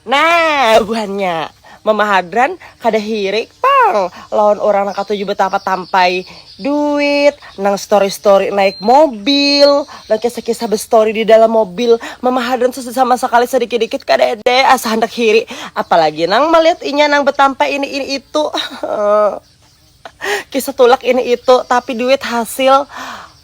Nah buhannya mama hadran kada hirik pang lawan urang nang katuju betapa tampai duit nang story story naik mobil nang kisah kisah bestory di dalam mobil mama hadran sama sekali sedikit dikit kadede asa handak hiri apalagi nang melihat inya nang betampai ini ini itu Kisah tulak ini itu, tapi duit hasil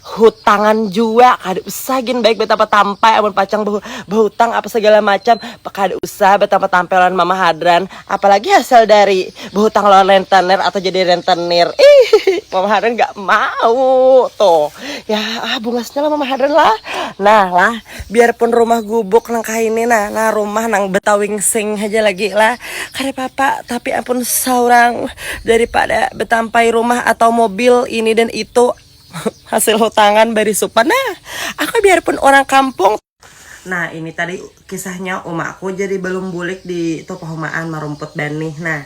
hutangan jua kada usah gin baik batampa tampai amun pacang bahutang apa segala macam kada usah batampa tampai lawan mama hadran apalagi hasil dari bahutang lawan rentenir atau jadi rentenir ihihi mama hadran gak mau tuh ya ah bungasnya lah mama hadran lah nah lah biarpun rumah gubuk nang kahini nah nah rumah nang betawingsing haja lagi lah kada papa tapi ampun saurang daripada betampai rumah atau mobil ini dan itu hasil hutangan barisupan nah aku biarpun urang kampung Nah ini tadi kisahnya uma aku jadi balum bulik di tupahumaan marumput banih nah.